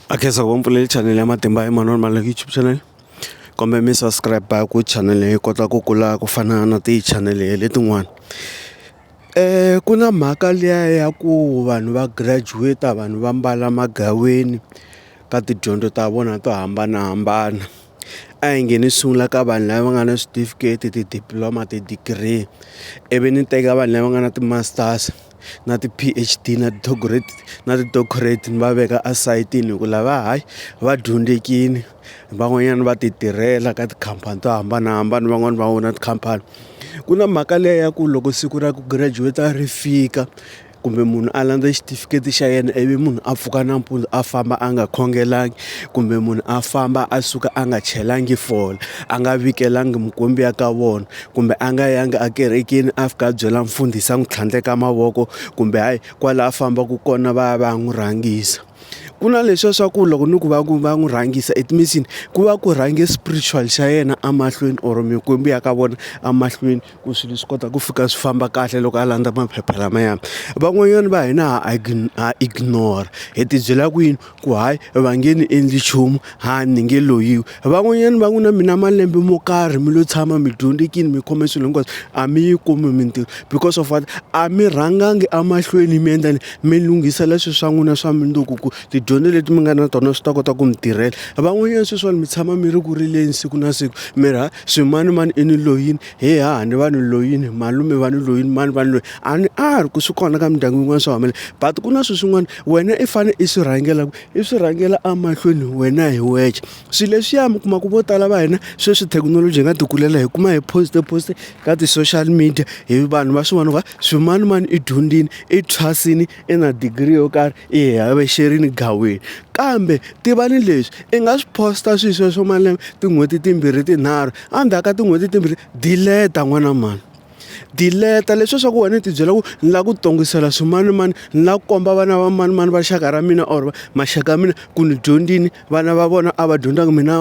a khensa ku va mpfulele chanele ya matimba ya Emmanuel Maluleke YouTube channel kumbe mi subscribe ku channel yi kota ku kula ku fana na ti-channel letin'wana um ku na mhaka liya ya ku vanhu va graduate vanhu va mbala magaweni ka tidyondzo ta vona to hambanahambana. a hi nge ni sungula ka vanhu lava nga na switifiketi ti-diploma ti-degree ivi ni teka vanhu lava nga na ti-masters na ti-P_H_D na na ti-doctorate ni va veka esayitini hi ku lava hayi va dyondzekile van'wanyana va ti tirhela ka tikhampani to hambanahambana van'wani va own-a tikhampani ku na mhaka leyi ya ku loko siku ra ku girajuweta ri fika kumbe munhu a landza xitifiketi xa yena ivi munhu a pfuka nampundzu a famba a nga khongelangi kumbe munhu a famba a suka a nga chelangi fole a nga vikelangi mukwembu ya ka vona kumbe a nga yangi ekerekeni a fika a byela mfundhisi a n'wi tlhandleka mavoko kumbe hayi kwala a fambaka kona va ya va ya n'wi rhangisa ku na leswiya swa ku loko ni ku va ku va n'wi rhangisa it means yini ku va ku rhange spiritual xa yena emahlweni or mikwembu ya ka vona emahlweni. ku swilo swi kota ku fika swi famba kahle loko a landza maphepha lamaya van'wanyana va hina ha ha ignore hi tibyela kwini ku hayi va nge ni endli nchumu ha ni nge loyiwi van'wanyana va n'wi na mina malembe mo karhi mi lo tshama mi dyondzekile mi khome swilo hinkwaswo a mi yi kumi mintirho because of what a mi rhangangi emahlweni mi endla mi lunghisela swilo swa n'wina swa mundzuku ku tidyondzo leti mi nga na tona swi ta kota ku mi tirhela van'wanyana sweswiwani mi tshama mi ri ku rileni siku na siku mi ri ha. Swimani mani i ni loyini he haha ni va ni loyini malume va ni loyini mani va ni loyi a ni a ri ku swi kona ka mindyangu yin'wana swa humelela but ku na swilo swin'wana wena i fane i swi rhangela ku i swi rhangela emahlweni wena hi wexe swilo leswiya mi kuma ku vo tala va hina sweswi thekinoloji hi nga ti kulela hi kuma hi post post ka ti-social media hi vanhu va swi vona va swimanimani i dyondzini i thwasini. i na degree yo karhi i hi havexerile gaweni kambe tivani leswi i nga swi posta swilo sweswo malembe tin'hweti timbirhi tinharhu endzhaku ka tin'hweti timbirhi dileta n'wana mani dileta leswi swa ku wena i tibyela ku ni lava ku tongisela swimanimani ni lava ku komba vana va manimani va xaka ra mina or maxaka ya mina ku ni dyondzini. vana va vona a va dyondzanga mina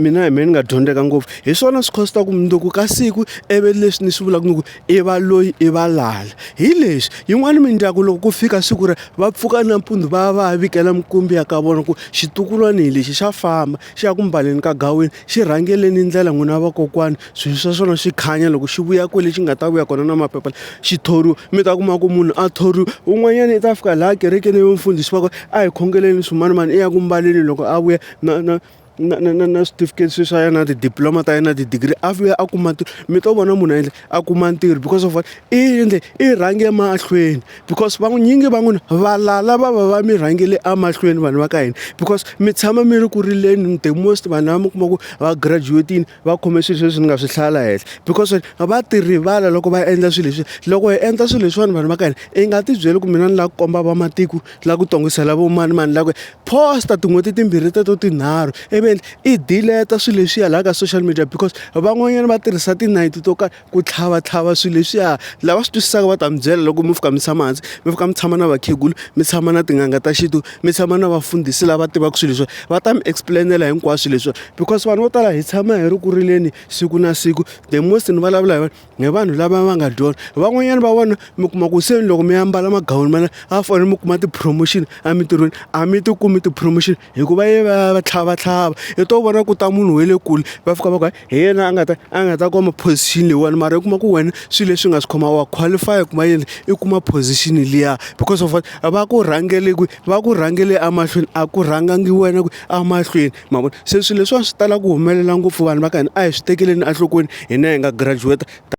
mina hi mehe ni nga dyondzeka ngopfu hi swona swi khositaka mundzuku ka siku ivi leswi ni swi vulaka ni ku i va loyi i va lala hi leswi yin'wana mindyangu loko ku fika siku ra va pfuka nampundzu va ya va ya vikela minkumbi ya ka vona ku xitukulwana hi lexi xa famba xi ya ku mbaleni ka gawini Xi rhangeleni ndlela n'wina vakokwani swilo swa swona xi khanya loko xi vuya kwale xi nga ta vuya kona na maphepha xi thoriwa mi ta kuma ku munhu a thoriwa un'wanyana i ta fika laha kerekeni ivi mfundhisi wa ku a hi khongeleni swimanimani i ya ku mbaleni loko a vuya na na na na na na switifiketi sweswiya na ti-diploma ta yena na ti-degree a vuya a kuma mi to vona munhu a endla. a kuma ntirho because of what i endle i rhange emahlweni because vanyingi va n'wina valala va va va mi rhangele emahlweni vanhu va ka hina because mi tshama mi ri ku rileni the most vanhu lava mi kuma ku va graduate-ini va khome swilo sweswi ni nga swi hlaya la henhla because va ti rivala loko va endla swilo leswi loko hi endla swilo leswiwani vanhu va ka hina i nga ti byeli ku mina ni lava ku komba vamatiko la ku tongisela vo mani mani la ku posta tin'hweti timbirhi teto tinharhu ivi i dileta swilo leswiya laha ka social media because van'wanyana va tirhisa tinayiti to karhi ku tlhavatlhava swilo leswiya lava swi twisisaka va ta mi byela loko mi fika mi tshama hansi mi fika mi tshama na vakhegula mi tshama na tin'anga ta xintu mi tshama na vafundhisi lava tivaka swilo leswiya va ta mi explain-ela hinkwaswo leswiya because vanhu vo tala hi tshama hi ri ku rileni siku na siku the most ni vulavula hi vanhu ni vanhu lava va nga dyondza van'wanyana va vona mi kuma ku se loko mi ambala magawuni mana a fanele mi kuma ti-promotion emintirhweni a mi ti kumi ti-promotion hikuva ye va va tlhava tlhava i to vona ku ta munhu we le kule va fika va ku hi yena a nga ta a nga ta kuma position leyiwani mara u kuma ku wena swi leswi nga swi khoma wa qualify ku ma yini i kuma position liya because of what va ku rhangele kwihi va ku rhangele emahlweni a ku rhangangi wena ku a mahlweni. ma vona se swilo leswiwani swi tala ku humelela ngopfu vanhu va ka hina a hi swi tekeleni enhlokweni hina hi nga graduate.